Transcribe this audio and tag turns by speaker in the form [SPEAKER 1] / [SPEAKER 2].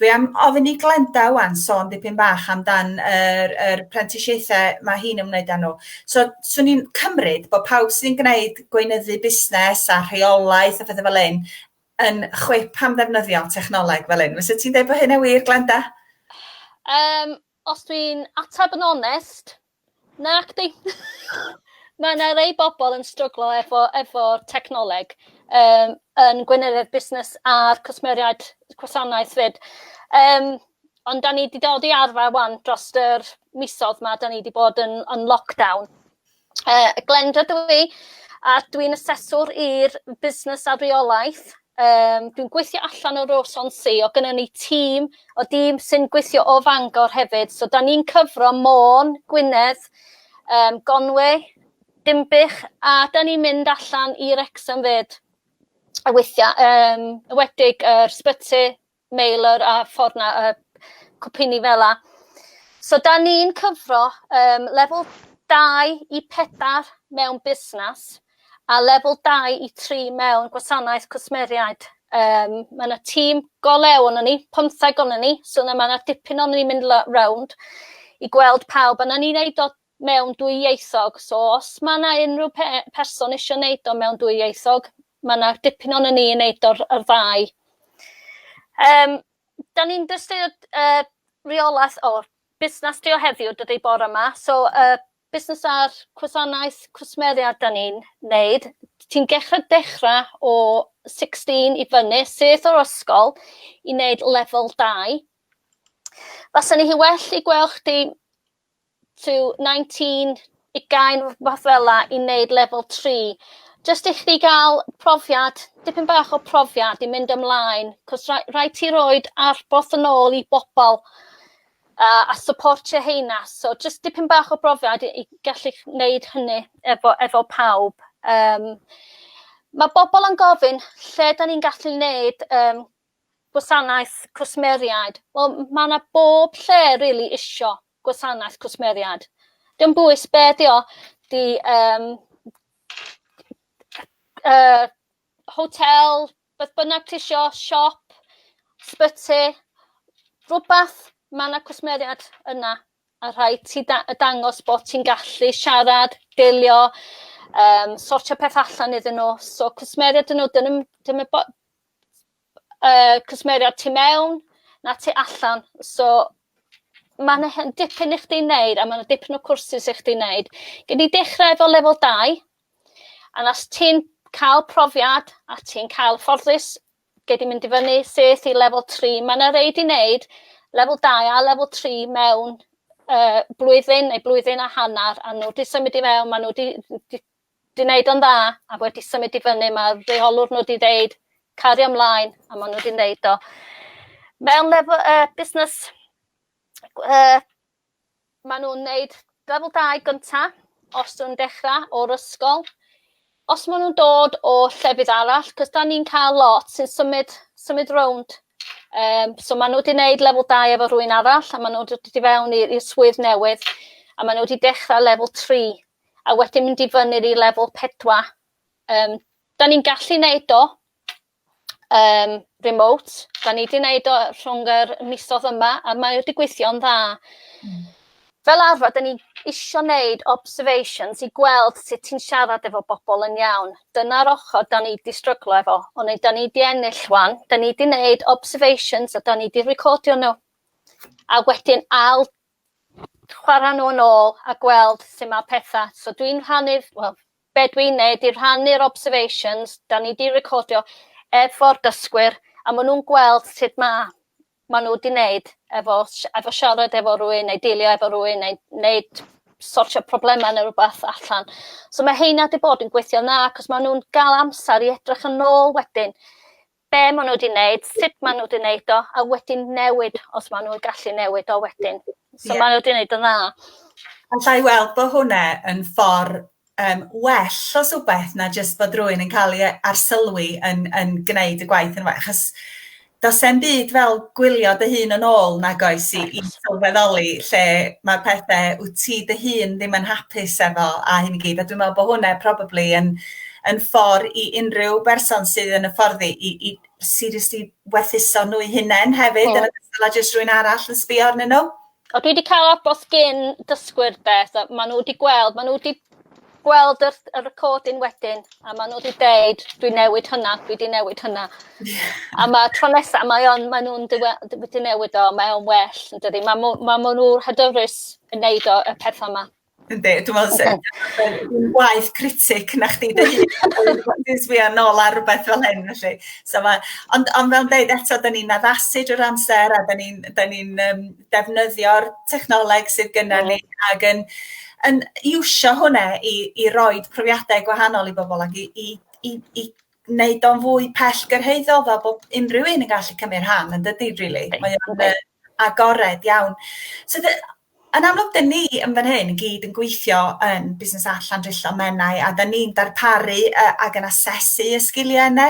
[SPEAKER 1] Dwi am ofyn i Glenda ŵan sôn dipyn bach amdan yr yr prentisiaethau mae hi'n ymwneud â nhw. So 'swn i'n cymryd bod pawb sy'n gwneud gweinyddu busnes a rheolaeth a phethau fel hyn yn chwip am ddefnyddio technoleg fel hyn. Fysa ti'n deud bod hynna'n wir, Glenda? Um,
[SPEAKER 2] os dwi'n ateb yn onest, Nacdi. Ma' 'na rei bobol yn stryglo efo efo'r technoleg yym yn gweinyddiaeth busnes a'r cwsmeriaid gwasanaeth 'fyd. Yym ond 'dan ni 'di dod i arfer 'wan drost yr misodd 'ma 'dan ni 'di bod yn yn lockdown. Yy Glenda dw i a dwi'n aseswr i'r busnes a reolaeth Um, dwi'n gweithio allan o Rosonsi, o gynnu ni tîm o dîm sy'n gweithio o Fangor hefyd. So, da ni'n cyfro Môn, Gwynedd, um, Gonwy, Dimbych, a da ni'n mynd allan i Rexham fyd. A weithiau, um, wedig yr uh, sbyty, mailer a ffordd na uh, cwpini fel la. So da ni'n cyfro um, lefel 2 i 4 mewn busnes a lefel 2 i 3 mewn gwasanaeth cwsmeriaid. Um, mae yna tîm go lew o'n ni, pymtheg o'n ni, so yna mae yna dipyn o'n ni'n mynd rownd i gweld pawb. Yna ni'n neud o mewn dwy ieithog so os ma' 'na unrhyw pe- person isio neud o mewn dwy ieithog ma' 'na dipyn ono ni yn neud o'r yr ddau. Yym 'dan ni'n dystio yy reolaeth o busnas trio heddiw dydi bore 'ma so yy busnas ar cwsanaeth cwsmeriaid 'dan ni'n neud ti'n gechre dechra o sixteen i fyny syth o'r ysgol i neud lefel dau. Faswn i well i gwel' chdi to 19 ugain fath fela i neud lefel 3 jyst i chdi ga'l profiad dipyn bach o profiad i mynd ymlaen 'c'os ra- raid ti roid arboth yn ôl i bobol a a syportio heina so jyst dipyn bach o brofiad i i gallu neud hynny efo efo pawb yym ma' bobol yn gofyn lle 'dan ni'n gallu neud yym gwasanaeth cwsmeriaid. Wel ma' 'na bob lle rili isio gwasanaeth cwsmeriaid. Dim bwys be' 'di o 'di yym yy hotel beth bynnag tisio siop sbyty rwbath ma' 'na cwsmeriaid yna a rhaid ti da- yy dangos bo' ti'n gallu siarad delio yym sortio peth allan iddyn n'w so cwsmeriaid 'dyn n'w dyn nw'm dim y bo- uh, cwsmeriaid tu mewn na tu allan. So mae'n dipyn i chdi wneud a mae'n dipyn o cwrsus i chdi wneud. Gyd i dechrau efo lefel 2 a nas ti'n cael profiad a ti'n cael ffordus gyd i mynd i fyny seth i lefel 3. Mae yna reid i wneud lefel 2 a lefel 3 mewn uh, blwyddyn neu blwyddyn a hanner a nhw wedi symud i mewn, maen nhw wedi 'di neud o'n dda a wedi symud i fyny ma' rheolwr nhw 'di ddeud cario mlaen a ma' nhw 'di neud o. Mewn lefel yy busnes yy ma' nhw'n neud lefel dau gynta os nw'n dechra o'r ysgol. Os ma' nw'n dod o llefydd arall 'c'os 'dan ni'n ca'l lot sy'n symud symud rownd yym so ma' n'w 'di neud lefel dau efo rhywun arall a ma' n'w dod i fewn i i'r swydd newydd a ma' n'w 'di dechra lefel tri a wedyn mynd i fyny'r i lefel 4. Um, da ni'n gallu neud o um, remote, da ni wedi neud o rhwng yr misodd yma, a mae wedi gweithio'n dda. Mm. Fel arfer, da ni isio neud observations i gweld sut ti'n siarad efo bobl yn iawn. Dyna'r ochr da ni wedi stryglo efo, ond da ni wedi ennill wan, da ni wedi neud observations a da ni wedi recordio nhw. A wedyn ail chwara nhw yn ôl a gweld su ma petha. So dwi'n rhannu wel be dwi'n neud di rhannu'r observations 'da ni di recordio efo'r dysgwyr a ma' nhw'n gweld sut ma' ma' nhw 'di neud efo sh- efo siarad efo rywun neu deilio efo rywun neu neud sortio problema ne' rwbath allan. So ma' heina 'di bod yn gweithio'n dda 'c'os ma' nw'n ga'l amsar i edrych yn ôl wedyn be maen nhw wedi wneud, sut maen nhw wedi wneud o, a wedyn newid os maen nhw'n gallu newid o wedyn. So yeah. maen nhw wedi wneud yn dda. Alla i
[SPEAKER 1] weld bod hwnna yn ffordd um, well os wbeth na jyst bod rhywun yn cael ei arsylwi yn, yn gwneud y gwaith yn well. Achos does e'n byd fel gwylio dy hun yn ôl nag oes i, i sylweddoli lle mae pethau wyt ti dy hun ddim yn hapus efo a hyn i gyd. A dwi'n meddwl bod hwnna probably yn yn ffordd i unrhyw berson sydd yn y fforddi i, i seriously werthuso nhw'i hunain hefyd mm. yn ogystal â jyst rhywun arall yn sbio arnyn nhw. O, dwi wedi cael
[SPEAKER 2] abos gyn dysgwyr de, so maen nhw wedi gweld, maen nhw wedi gweld y, y recording wedyn, a maen nhw wedi deud, dwi newid hynna, dwi wedi newid hynna. a mae tro nesaf, mae on, maen nhw'n wedi newid o, mae o'n well, yn dydy. Mae ma, ma nhw'n hyderus yn neud o, y pethau yma. Yndi, dwi'n meddwl
[SPEAKER 1] sy'n waith critic na chdi dy hun, dwi'n sbio nôl ar rhywbeth fel hyn felly. So ma, ond, ond fel dweud eto, da ni'n addasu drwy'r amser a da ni'n ni um, defnyddio'r technoleg sydd gyda ni mm. ac yn, yn iwsio hwnna i, i roi profiadau gwahanol i bobl ac i, i, i, i wneud o'n fwy pell gyrhaeddol fel bod unrhyw un yn gallu cymryd rhan yn dydy, really. Mae o'n Agored iawn. So the- yn amlwg 'dyn ni yn fan hyn i gyd yn gweithio yn Busnes Allan Drillo Menai a 'dan ni'n darparu yy ag yn asesu y sgilie yne